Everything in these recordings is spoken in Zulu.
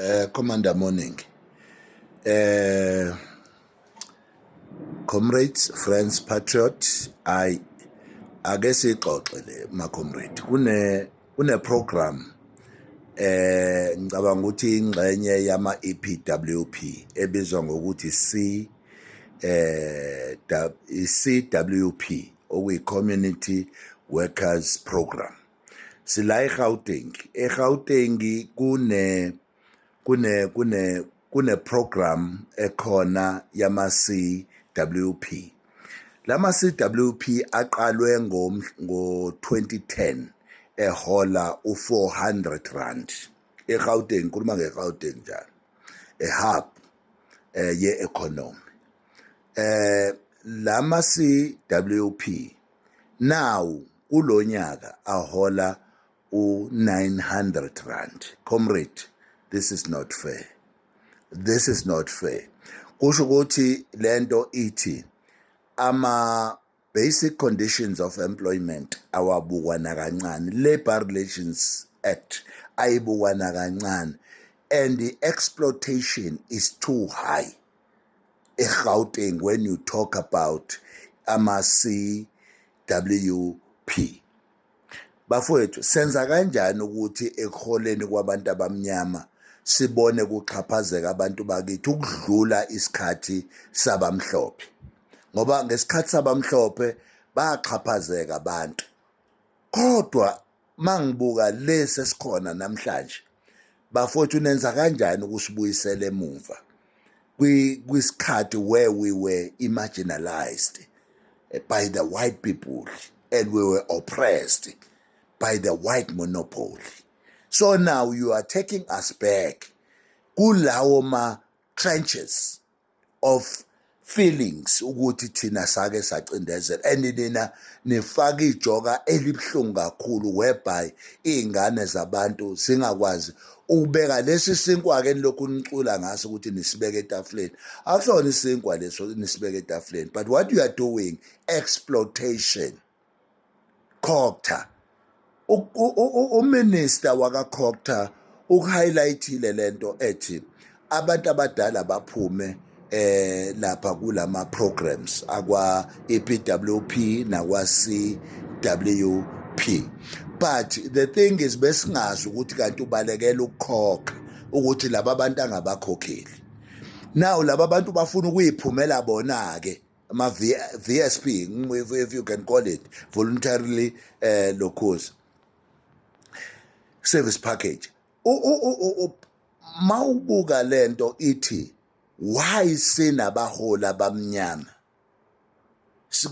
Eh Commander morning. Eh Comrades, friends, patriot, I ake sixoxe le ma comrade. Kune kune program eh ngicabanga ukuthi ingxenye yama EPWP ebizwa ngokuthi C eh CWP okuyi community workers program. sila eGauteng eGauteng kune kune kune kune program ekhona yama CWP lama CWP aqalwe ngo ngo 2010 ehola u 400 rand eGauteng kuluma ngeGauteng njalo a hub eh ye economy eh lama CWP nawu kulonyaka ahola u900 rand comrade this is not fair this is not fair kusho ukuthi lento ithi ama basic conditions of employment awabukwa nakancane labor relations act ayibukwa nakancane and the exploitation is too high eGauteng when you talk about ama-CWP. Bafowethu senza kanjani ukuthi ekuholeni kwabantu abamnyama sibone kuxhaphazeka abantu bakithi ukudlula isikhathi sabamhlophe ngoba ngesikhathi sabamhlophe baxhaphazeka abantu kodwa Mangibuka lesi esikhona namhlanje bafowethu nenza kanjani ukusibuyisela emuva kwisikhathi where we were imaginalized eh, by the white people and we were oppressed by the white monopoly so now you are taking us back kulawo ma trenches of feelings ukuthi thina sake sacindezela and nina nifaka ijoka elibuhlungu kakhulu whereby iy'ngane zabantu zingakwazi ukubeka lesi sinkwa ke nilokhu nicula ngaso ukuthi nisibeke etafuleni akusona isinkwa leso nisibeke etafuleni but what you are doing exploitation Cogta uminister wakaCogta ukuhighlightile lento ethi abantu abadala baphume eh lapha kulama programs akwa EPWP nakwa CWP but the thing is besingazi ukuthi kanti ubalekela ukukhokha ukuthi laba bantu angabakhokheli now laba bantu bafuna ukuyiphumela bona ke ama-vsp if, if you can call it voluntarily uh, locos service package ma ubuka le nto ithi why sinabaholi abamnyama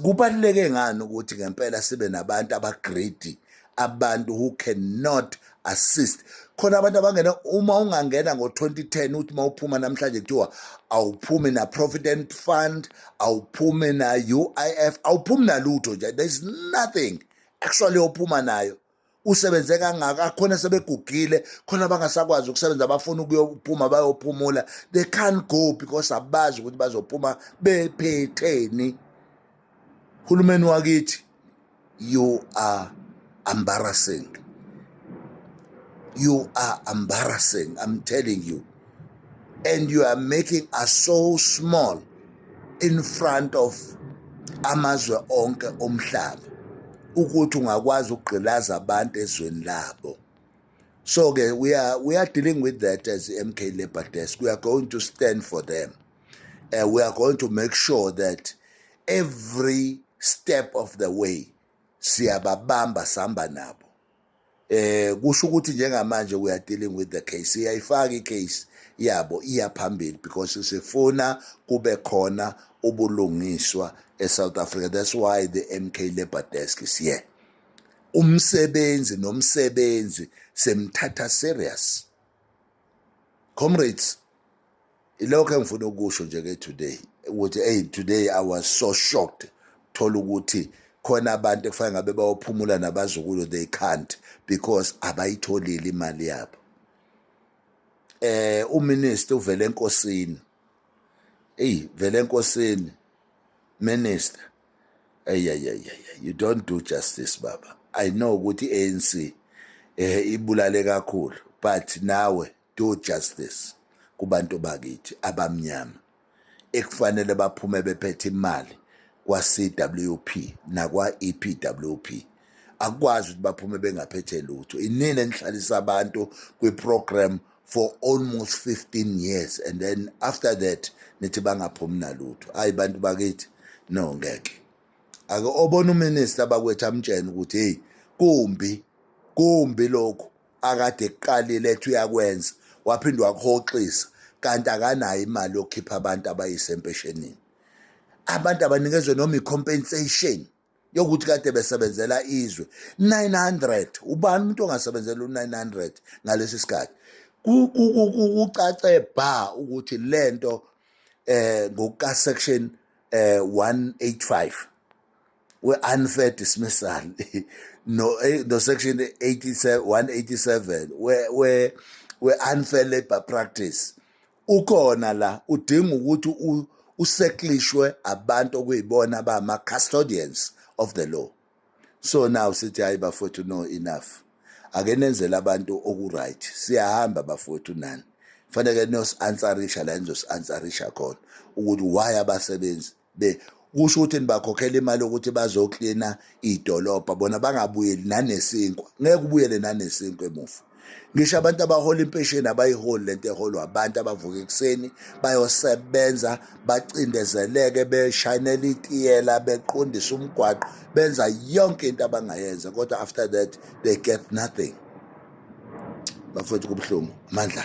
kubaluleke ngani ukuthi ngempela sibe nabantu abagrade abantu who cannot assist khona abantu abangena uma ungangena ngo-2010 uthi uma uphuma namhlanje kuthiwa awuphumi na-provident fund awuphumi na-uif awuphumi nalutho nje there is nothing actually ophuma nayo usebenze kangaka akhona sebegugile khona abangasakwazi ukusebenza abafuna ukuyophuma bayophumula they can't go because abazi ukuthi bazophuma bephetheni Hulumeni wakithi you are embarrassing. You are embarrassing, I'm telling you. And you are making us so small in front of amazwe onke omhlaba ukuthi ungakwazi ukugqilaza abantu ezweni labo so ke we are we are dealing with that as MK Labor Desk we are going to stand for them uh, we are going to make sure that every step of the way siyababamba sihamba nabo eh kusho ukuthi njengamanje we are dealing with the case iyayifaka icase yabo iya phambili because sifuna kube khona ubulungiswa eSouth Africa that's why the MK Labor Desk is here umsebenzi nomsebenzi semthatha serious comrades ilokho engifuna ukusho nje ke today ukuthi hey today i was so shocked thola ukuthi khona abantu ekufanele ngabe bayophumula nabazukulu they can't because abayitholile imali yabo eh uminister uvele enkosini hey vele enkosini minister ayayayaya you don't do justice baba i know ukuthi ANC eh ibulale kakhulu but nawe do justice kubantu bakithi abamnyama ekufanele baphume bephethe imali kwa-CWP nakwa-EPWP akwazi ukuthi baphume bengaphethe lutho inini enihlalisa abantu kwi-program for almost 15 years and then after that nithi bangaphumi nalutho hayi bantu bakithi no ngeke ake obona uminister bakwethu amtshene ukuthi hey kumbi kumbi lokhu akade ekuqalile ethi uyakwenza waphinde wakuhoxisa kanti akanayo imali yokukhipha abantu abayise empeshenini abantu abanikezwe noma i-compensation yokuthi kade besebenzela izwe 900 ubani umuntu ongasebenzela u-900 ngalesi sikhathi kucace bha ukuthi le nto um ngokukasection um 185 we-unfair dismissal no eh, no section 87 187 we we we unfair labor practice ukhona la udinga ukuthi useklishwe abantu okuyibona ba ma custodians of the law so now sithi hayi bafowethu no enough ake nenzele abantu okuright siyahamba bafowethu nani fanele nos-ansarisha la nizosi-ansarisha khona ukuthi why abasebenzi be kusho ukuthi nibakhokhela imali yokuthi bazoklina idolobha bona bangabuyeli nanesinkwa ngeke ubuyele nanesinkwa emuva ngisho abantu abahola impesheni abayiholi lento eholwa abantu abavuka ekuseni bayosebenza bacindezeleke beshayinela itiyela beqondisa umgwaqo benza yonke into abangayenza kodwa after that they get nothing bafowethu kubuhlungu mandla